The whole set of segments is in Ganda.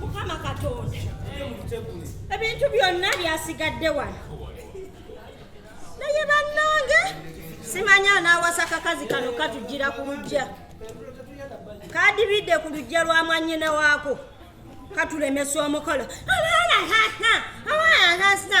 mukama katonda ebintu byonna byasigadde wano naye bannange simanya anaawasa kakazi kano katujjira ku lujja kadibidde ku lujja lwa mwanyina waako katulemesa omukolo abaana hasa abaana hasa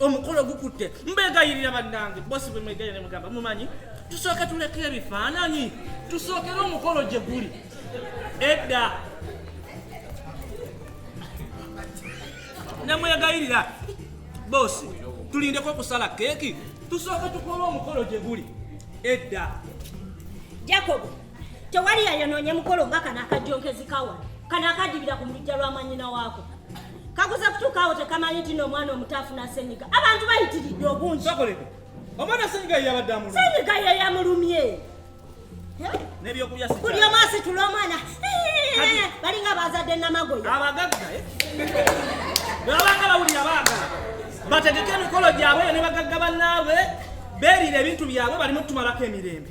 omukolo gukutte mbegayirira bannange bosi bwe mwegayira ne mugamba mumanyi tusooke tuleka ebifaananyi tusookere omukolo gye guli edda ne mwegayirira bosi tulindeko okusala keeki tusooke tukole omukolo gye guli edda jakobo tewali yayonoonye mukolo nga kano akajjonkezi kawa kano akadibira ku mulujja lwa mwanyina waako kakuza kutuukaawo tekamanyi nti no omwana omuto afuna senyiga abantu bayitiridde obungi omwana senyiga yeyabadde amulumye senyiga yeyamulumye buli omu asitula omwana balinga bazadde namagoya abagagga eh? babanga bawulira abaagala bategeke emikolo gyabwe yo ne bagagga bannaabwe beerira ebintu byabwe balimu tumalako emirembe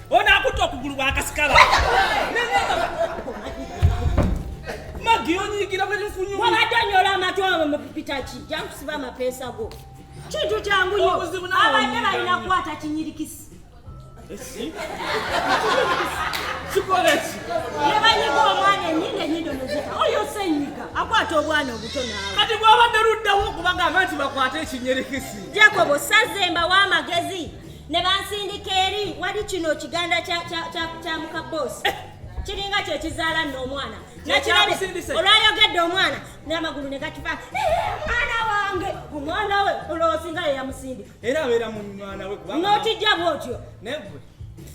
Ono akutte okugulu bwakasikala. Magi onyigira bwe nfunyu. Wabadde onyola amatu abo mu pitaki. Jankusiba amapeesa go. Kintu kyangu nyo. Abadde balina kukwata kinyirikisi. Esi? Sikolesi. Nebanyiga omwana enyindo enyindo nezita. Oyo senyiga. Akwata obwana obuto naawe. Kati bwabadde luddawo okubagamba nti bakwate ekinyirikisi. Jacobo sazemba w'amagezi. ne bansindika eri wali kino kiganda kya muka boss kiringa kyekizaala nno omwana nakirabe olwayogedde omwana n'amagulu ne gatufa mwana wange omwana we olwosinga yeyamusindi era abeera mu mwana we notijja bwotyo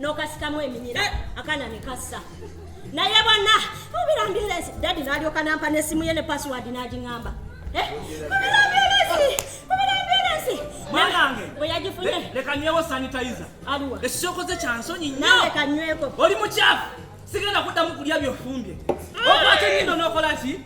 n'okasikamu eminyira eh! akana ne kassa naye bonna mubirambirezi dadi n'alyoka nampa n'essimu ye ne pasiwadi n'agiŋamba eh? mubirambirezi mubirambirezi mwanange bwe yagifunye leka nywewo sanitayiza aliwa ekisookoze kya nsonyi nnyo leka nyweko oli mukyafu sigenda kuddamu kulya byofumbye mm. okwata enyindo n'okola ki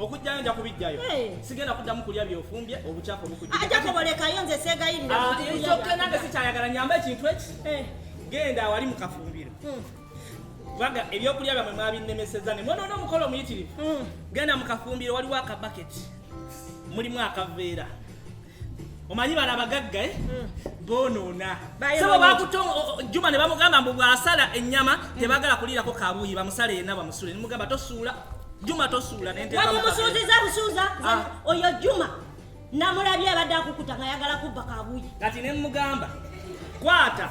okujjayo nja kubijjayo sigenda kuddamu kulya byofumbye obucako bukujakobolekayo nze segayirirnange ah, sikyayagala nyamba ekintu eki eh. genda awali mu kafumbiro hmm. kubanga ebyokulya byamwe mwabinnemeseza ne mwonoona omukolo omuyitirivu hmm. genda mu kafumbiro waliwo akabaketi mulimu akaveera omanyi bano abagagga eh? mm. bonoona sebo bakuta juma ne bamugamba mbu bwasala ennyama mm. tebagala kuliirako kabuuyi bamusala yenna bamusule nemugamba tosuula juma tosuula nentmumusuuziza busuuza ah. oyo juma namulabye abadde akukuta nga yagala kubba kabuuyi kati nemugamba kwata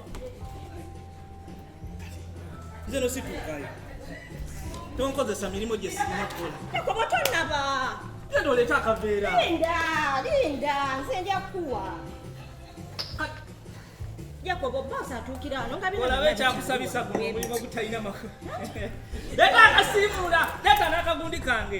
nze no situukayo tonkozesa mirimu gye sirina kukola ekobo tonaba genda oleeta akaveera linda linda nze nja kukuwa jakobo bosi atuukira ano nga olaba ekyakusabisa guno omulimu ogutalina maka leeta akasiimuula leeta n'akagundi kange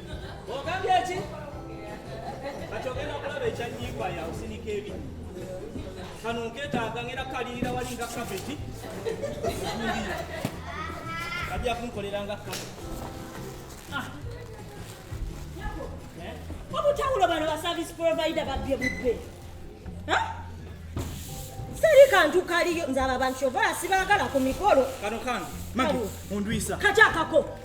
kano nketaaga ngera kalirira wali nga kabeti ajja kunkolera nga ah. eh? obutawulo bano ba service provider babbye bubbe seri kantu kaliyo nze abo abantu kyova sibaagala ku mikolo kano kange magi ondwisa kati akako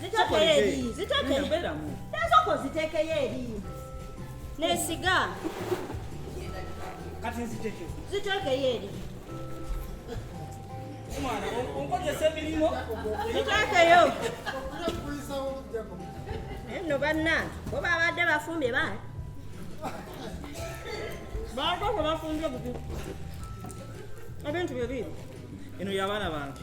zitekeyo eri zitekeyo ezoko zitekeyo eri nesiga kati nzitekeyo zitekeyo eri omwana onkozesa emirimu zitekeyo nno bannange bo babadde bafumbye baali baako gwe bafumbye bubi ebintu bye biibi eno yabaana bange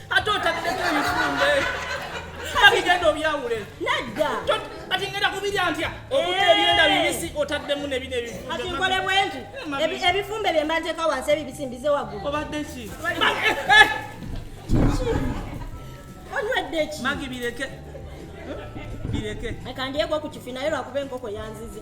ate otabideko ebifumbe abigenda obyawule nedda kati ngenda kubirya ntya okuta eh. ebyenda bibisi otaddemu nebino ebifumbeati nkole bwenti eh, ebifumbe bye mba nteeka wansi ebibisi mbize waggulu obadde ki eh, onywedde ki magi bireke bireke akandyeko ku kifi naye lwakuba enkoko yanzize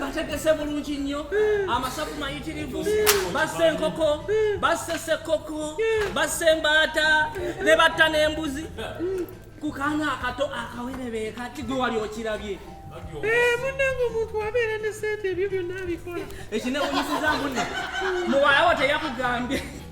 bategese bulungi nnyo amasavu mayitirivu bassa enkoko bassa esekoko bassa embaata ne batta n'embuzi ku kaana akato akawerebee kati gwe wali okirabye eh, munange omuntu abeera ne sente ebyo byonna abikola ekinewunyisiza mune muwalawo teyakugambye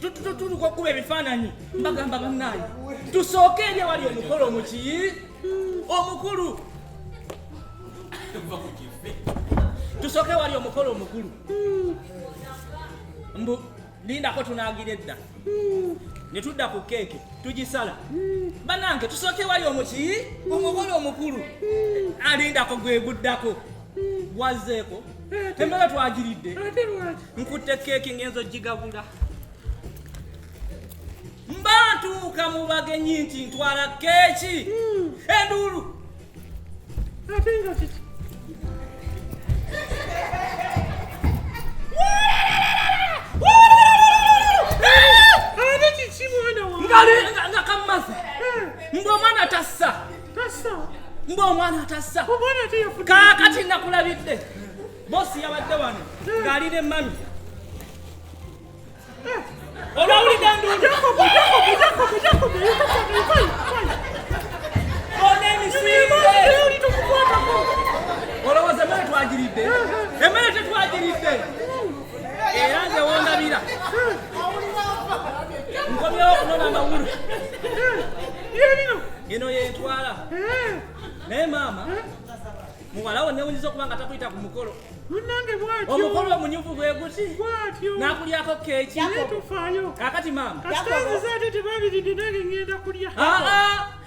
tutuka okuba ebifaananyi mbagamba bannaayi tusooke eri ewali omukolo mukiyi omukulu tusooke ewali omukolo omukulu mbu lindako tunagira edda ne tudda ku keeke tugisala bannange tusooke ewali omukiyi omukolo omukulu alindako gweguddako wazzeeko emmere twagiridde nkutte keeki ng'enzo gigabula mba ntuuka mu bagenyi nti ntwala keeki hmm. enduulu ate nga kiki nga kammaze hmm. mbu omwana tassa mba omwana atassa kaakati nakulabidde bosi yabadde wano ng'ali ne mami eh. olwawulidde nduulu olowooza emmere twagiridde eh, eh. emmere tetwagiridde era nze wondabira nkomyewo okunona amawulu eno yentwala naye maama muwalawo newunyiza okuba nga takuyita ku mukolo omukolo omunyuvu gwe guti nakulyako keeki kakati maama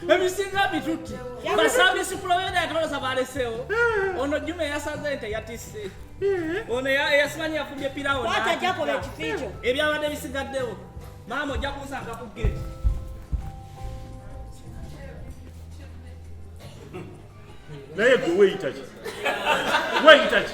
ebisinga bitutte basabisi kulabera yatolosa balesewo eh. ono juma eyasaze nte yatisse eh. ono eyasimanyi yafumbye pirawo ebyabadde bisigaddewo maama ojja kunsanga ku gate naye gwe weyitaki weyitaki